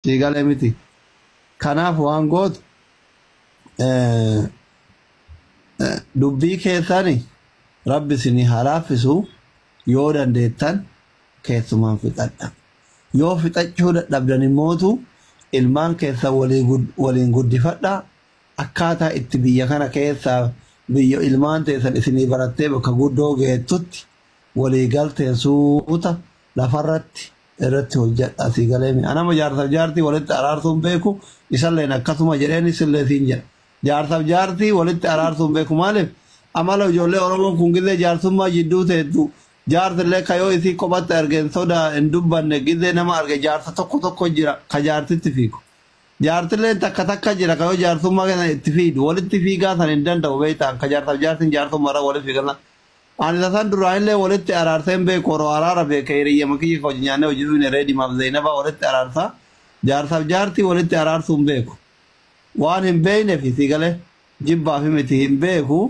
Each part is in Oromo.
Sii galee miti. Kanaaf waan gootu eh, eh, dubbii keessani rabbi isinii haa laaffisu yoo dandeettan keessumaan fixadha. Yoo fixachuu dadhabdan immootu ilmaan keessan walii gud- waliin guddifadha. Akkaataa itti biyya kana keessaa biyya ilmaan teessan isinii barattee bakka guddoo geettutti walii galteen suuta lafarratti irratti hojjadha sii galeemi anama jaarsaf jaartii walitti araarsuun beeku isalleen akkasuma jedheen isillee siin jedha jaarsaf jaartii walitti araarsuun beeku maaliif amala ijoollee oromoon kun gizee jaarsummaa jidduu teettu jaarsillee kayoo isii kophatti argeen sodaa hin dubbanne gizee nama arge jaarsa tokko tokko jira ka jaartitti fiigu jaartilleen takka takka jira kayoo jaarsummaa keessan itti fiidu walitti fiigaa san hin danda'u beektaan ka jaarsaf jaartiin jaarsummaarra walitti fiigan Ani tasan duraanillee walitti araarsee hin beeku odoo araara beekee hiriyyama kiyya ka wajji nyaannee hojii dhuyne Reedimaaf Zeenabaa walitti araarsa jaarsaf jaartii walitti araarsuu hin beeku waan hin beeynefi sii galee jibbaafi miti hin beeku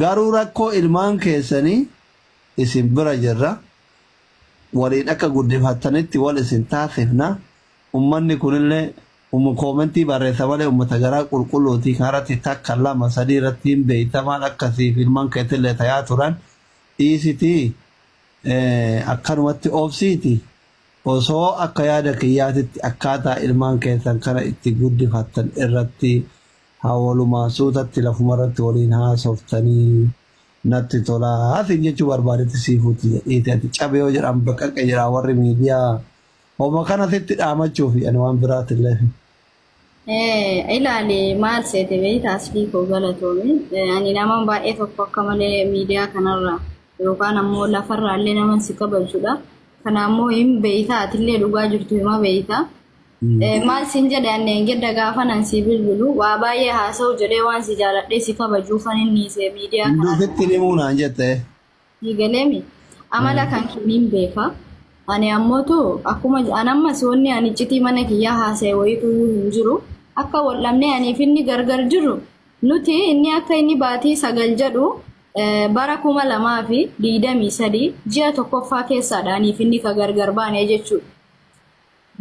garuu rakkoo ilmaan keessanii isin bira jirra waliin akka guddifattanitti wal isin taasifna ummanni kunillee Umu koomentii barreessa malee ummata garaa qulqulluuti kanarratti takka lama sadii irratti hin beeyta maal akka siif ilman keetillee tayaa turan dhiisiti akkanumatti obsiiti osoo akka yaada kiyyaatitti akkaataa ilmaan keessan kana itti guddifattan irratti haa walumaan suutatti lafumarratti waliin haasoftanii natti tolaa siin jechuu barbaadetti siifuutti jedhiiti ati cabe yoo jedhan baqaqe jedha warri miidiyaa Homa kana sitti dhaamachuufi ani waan biraatti illee hin. Eh, ilaali maal seete beeyta asfii koo galatoomi. Eh, ani nama baay'ee tokko akka malee miidiyaa kanarra yookaan ammoo lafarraa illee nama si kabajudha. Kana ammoo hin beeyta atillee dhugaa jirtu hima beeyta. Eh, maal siin jedhe anneen gedda gaafan an sii bilbilu waa baay'ee haasa'u jedhee waan si jaaladhee si kabajuufan inni se miidiyaa Hunduu kanarra. sitti himuu naan jette. Sii galeemi amala kan keeniin beeka. Ani ammootu akkuma an ammas wanni ani iccitii mana kiyyaa haasa'e wayituyyuu hin jiru. Akka wal dhabnee aniif inni gargar jiru nuti inni akka inni baatii sagal jedhu eh, bara kuma lamaa fi digdamii sadii ji'a tokkoffaa keessaadha aniif inni ka gargar baane jechuudha.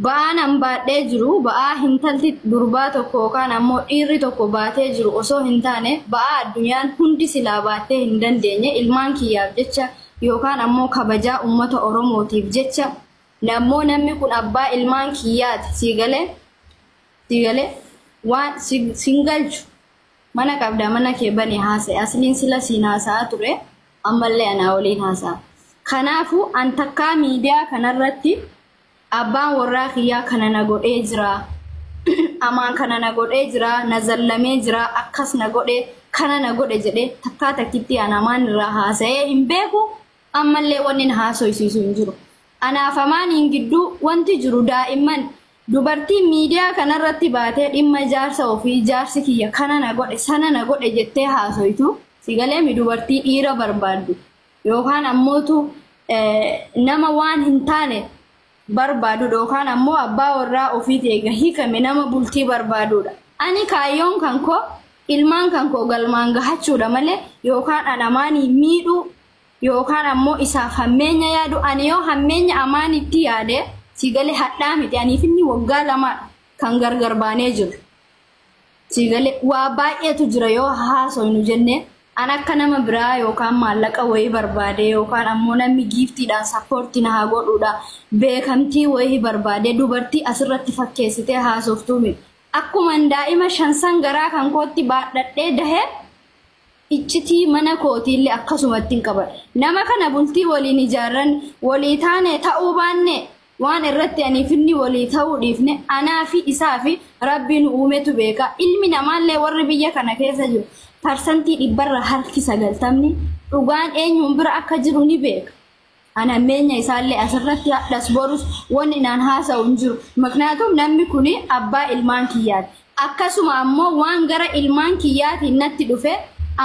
Ba'aan an baadhee jiru ba'aa hintalti durbaa tokko yookaan ammoo dhiirri tokko baatee jiru osoo hintaane ba'aa addunyaan hundi silaa baattee hindandeenye ilmaan kiyyaaf jecha yookaan ammoo kabajaa ummata Oromootiif jecha nammoo nammi kun abbaa ilmaan kiyyaati sii galee sii galee waan sin galchu mana qabdaa mana kee banii haasa'i asliin sila siin haasa'aa ture ammallee anaa waliin haasa'a kanaafuu an takkaa miidiyaa kanarratti Abbaan worraa kiyyaa kana na godhee jira, Amaan kana na godhee jira, na zallamee jira, akkas na godhe, kana na godhe jedhee takkaa takkittii an Amaan irraa haasayee hin beeku, ammallee wanni na haasoysiisu hin jiru. Anaaf Amaaniin gidduu wanti jiru daa'imman, dubartiin miidiyaa kanarratti baatee dhimma jaarsa ofii jaarsi kiyya kana na godhe, sana na godhe jettee haasoytu, si galeemi dubartii dhiira barbaaddu. yookaan ammootu nama waan hin taane barbaadu yookaan ammoo abbaa warraa ofiiti eega hiikame nama bultii barbaaduudha. Ani kaayyoon kan koo ilmaan kan koo galmaan gahachuudha malee yookaan an amaanii miidhuu yookaan ammoo isaaf hammeenya yaadu ani yoo hammeenya amaanitti yaade si galee hadhaa miti aniif inni waggaa lamaadha kan gargar baanee jiru. Sii galee waa baay'eetu jira yoo haasoynu jenne an akka nama biraa yookaan maallaqa wayii barbaadee yookaan ammoo namni giiftiidhaan sappoortii na haa godhuudha beekamtii wayii barbaadee dubartii asirratti fakkeessitee haasoftuu miti. Akkuman daa'ima shan san garaa kan kootti baadhadhee dahee Iccitii mana kootiille akkasumattin qabadha. Nama kana bultii woliin ijaarranne, wolii taane, ta'uu baanne, waan irratti aniif inni wolii ta'uu dhiifne anaa fi isaa fi Rabbi nu uumetu beeka. Ilmi namaallee worri biyya kana keessa jiru parsantii dhibbarraa harki sagaltamni dhugaan eenyuun bira akka jiru ni beeka. An hammeenya isaallee asirratti hadhas borus wanni naan haasa'u hin jiru. Maknaatum namni kun abbaa ilmaan kiyyaati. Akkasuma ammoo waan gara ilmaan kiyyaatiin natti dhufe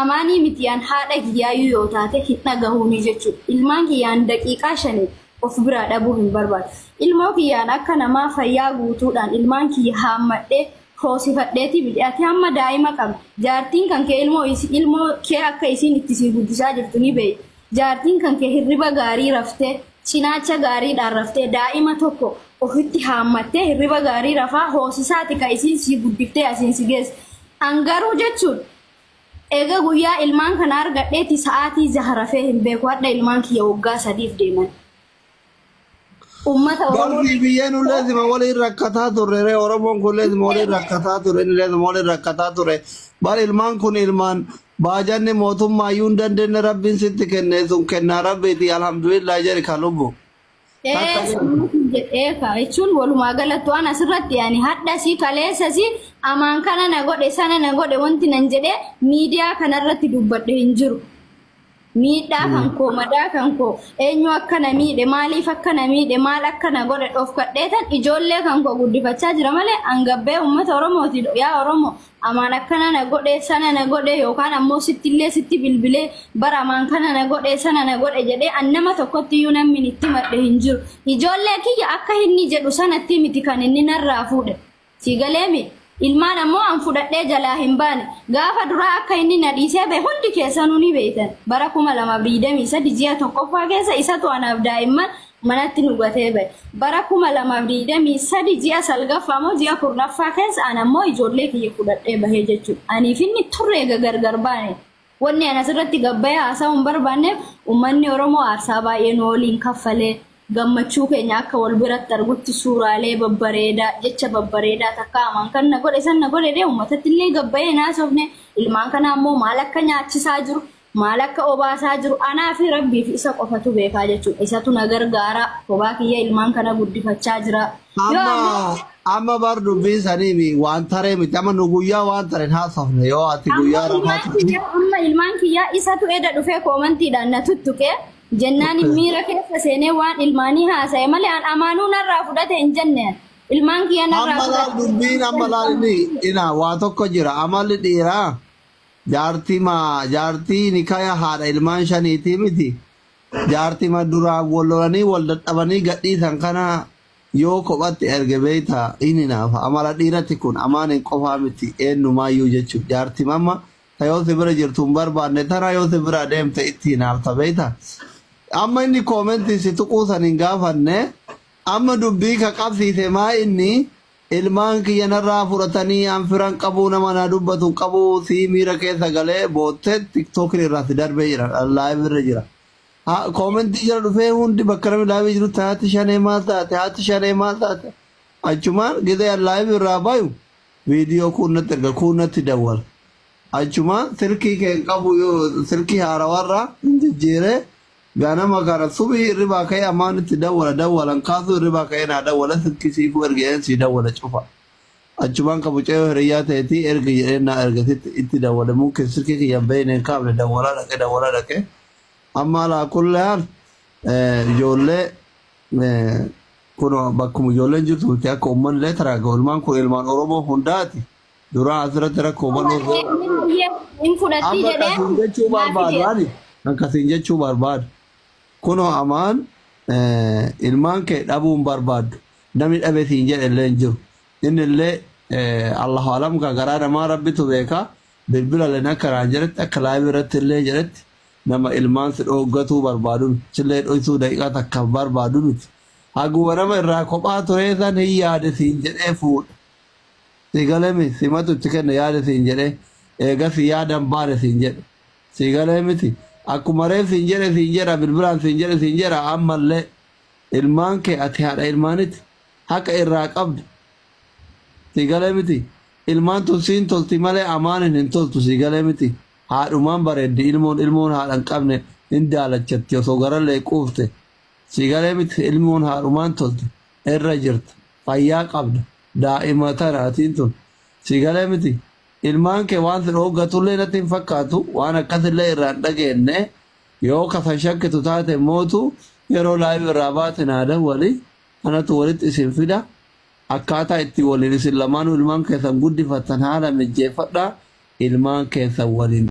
amaanii miti an haadha kiyyaayyuu yoo taate hin dhagahuunii jechuudha. Ilmaan kiyyaan daqiiqaa shaniif of biraa dhabuu hin barbaadu. Ilmoo kiyyaan akka namaa fayyaa guutuudhaan ilmaan kiyya haammadhee hoosifadheetii miti. Ati hamma daa'ima qabda. Jaartiin kan kee ilmoo, ilmoo kee akka isiin itti sii guddisaa jirtu ni beekti. Jaartiin kan kee hirriba gaarii raftee, cinaacha gaariidhaan raftee, daa'ima tokko ofitti haammattee hirriba gaarii rafaa hoosisaati ka isiin sii guddiftee asiin si geesse. An garuu jechuun eega guyyaa ilmaan kana argadheeti sa'aatii jaha rafee hin beeku. Hadha ilmaan kiyya woggaa sadiif deeman. Uummata Oromoo Barri biyya nullee sima waliin rakkataa turre ree Oromoon kunillee sima waliin rakkataa ture innillee sima waliin rakkataa ture bar ilmaan kun ilmaan baajanni mootummaa iyyuu hin dandeenye rabbiin sitti kenne sun kennaa rabbiiti alhamdulillah jedhi ka lubbu. Takka Ee, sammuu kun jedhee ka jechuun walumaa galatti waan asirratti ani hadhasi kaleessasi amaan kana na godhe sana na godhe wanti nan jedhee miidiyaa kanarratti dubbadhe hin jiru. Miidhaa kan koo madaa kan koo eenyu akka na miidhe maaliif akka na miidhe maal akka na godhe dhofkadheetan ijoollee kan koo guddifachaa jira malee angabbee uummata Oromooti yaa Oromoo amaan akkana na godhe sana na godhe yookaan ammoo sittillee sitti bilbilee bara amaan kana na godhe sana na godhe jedhee an nama tokkotti iyyuu namni itti madhe hin jiru ijoollee kiyya akka inni jedhu sanatti miti kan inni narraa fuudhe. Sii galee mii? Ilmaan ammoo an fudhadhee jalaa hin baane. Gaafa duraa akka inni na dhiisee bahe hundi keessanuu ni beektan. Bara 2023 ji'a tokkoffaa keessa isatu anaaf daa'imman manatti nu gatee bahe. Bara 2023 ji'a salgaffaa moo ji'a kurnaffaa keessa an ammoo ijoollee kiyya fudhadhee bahee jechuudha. Aniif inni turre eega gargar baane. Wanni ani asirratti gabbayee haasa'uu hin barbaanneef ummanni Oromoo aarsaa baay'ee nu waliin kaffale. Gammachuu keenya akka wal biratti argutti suuraalee babbareedaa, jecha babbareedaa takkaa amaan kan na godhe san na godhe dee ummatatillee gabbayee hin haasofne. Ilmaan kanaa immoo maal akka nyaachisaa jiru, maal akka obaasaa jiru anaa fi Rabbii fi isa qofatu beekaa jechuudha. Isatu na gargaara. Kophaa kiyya ilmaan kana guddifachaa jira. Amma amma bar dubbiin sanii mi waan taree miti amma nu guyyaa waan tareen haasofne yoo ati Amma guyyaa rafaa ilmaan turte kiyyaa amma ilmaan kiyyaa isatu eda dhufee koomantiidhaan na tuttuqee jennaan miira keessa seenee waan ilmaanii haasa'e malee an amaanuu narraa fudhate hin jenneen ilmaan kiyya narraa amma laal fudhate dubbiin amma laal inni ina waa tokko jira amalli dhiiraa jaartii maa jaartii nikaya haadha ilmaan shaniitii miti Jaartima duraan wal lolanii wal dadhabanii gadhiisan kana yoo kophatti erge beekta hin hinaafa. Amala dhiirati kun Amaanin qofaa miti eennumaayyuu jechuuf jaartima amma ta yoo si bira jirtu hin barbaanne tana yoo si biraa deemte itti hinaafta beekta. Amma inni koomentiin si tuquu san hin gaafanne amma dubbii ka qabsiise maa inni Ilmaan kiyya narraa fudhatanii an firan qabuu nama naa dubbatu hin qabu sii miira keessa galee boottee tiktokin irraa si darbee jira live irra jira ha koomentii jala dhufee hundi bakka namni live jirutti haati shanee maal taate haati shanee maal taate achumaan gizee an live irraa bayu viidiyoo kuun natti erga kuun natti dawwala achumaan silkii kee hin qabu yoo silkii haarawarraa hin jijjiiree Ganama kana subhi hirribaa ka'ee ammaan itti dawwala dawwalan kaasuu hirribaa ka'ee naa dawwala silkii siifuu erge jedheen sii dawwale cufa. Achumaan ka mucayyoo hiriyyaa ta'etii ergi jedheen naa ergasitti itti dawwale mumkin silkii kiyya hin beeyne hin kaafne dawwalaa dhaqe dawwalaa dhaqe amma alaa kulli haal ijoollee kunoo bakkuma ijoolleen jirtu miti akka ummanillee taraaga'u ilmaan kun ilmaan Oromoo hundaati. Duraa asirratti rakkoo baloo Dubartiin irraa inni baay'ee hin fudhattii amma jedhee kasiin jechuu naaf barbaadu fideera. ani kan kasiin jechuu barbaadu kunoo amaan eh, ilmaan kee dhabuun barbaaddu namni dhabe siin jedhe illee hin jiru inni illee eh, allahu alam ka garaa namaa rabbitu beeka bilbila leen akka naan jedhetti akka laayibii irratti illee jedhetti nama ilmaan si dhooggatuu barbaadu miti sillee dhoysuu daqiiqaa takka barbaadu miti haguma nama irraa kophaa turee san hin yaade siin jedhee fuudha Sii galee miti simatu itti kenne yaada siin jedhee eegasii yaada hin baane siin jedhe sii galee miti akkuma reef siin jedhe siin jedha bilbilaan siin jedhe siin jedha ammallee ilmaan kee ati haadha ilmaaniti haqa irraa qabda sii galee miti ilmaan tun siin tolti malee amaanin hin toltu sii galee miti haadhumaan bareeddi ilmoon ilmoon haadha hin qabne hin daalachatti osoo garallee quufte sii galee miti ilmoon haadhumaan tolti irra jirta fayyaa qabda daa'ima tana atiin tun sii galee miti ilmaan kee waan si dhooggatullee natti hin fakkaatu waan akkasillee irraa hin dhageenne yoo kasan shakkitu taate mootu yeroo laayiv irraa baate naa dawwali anatu walitti isin fida akkaataa itti waliin isin lamaanuu ilmaan keessan guddifattan haala mijjeeffadhaa ilmaan keessan waliin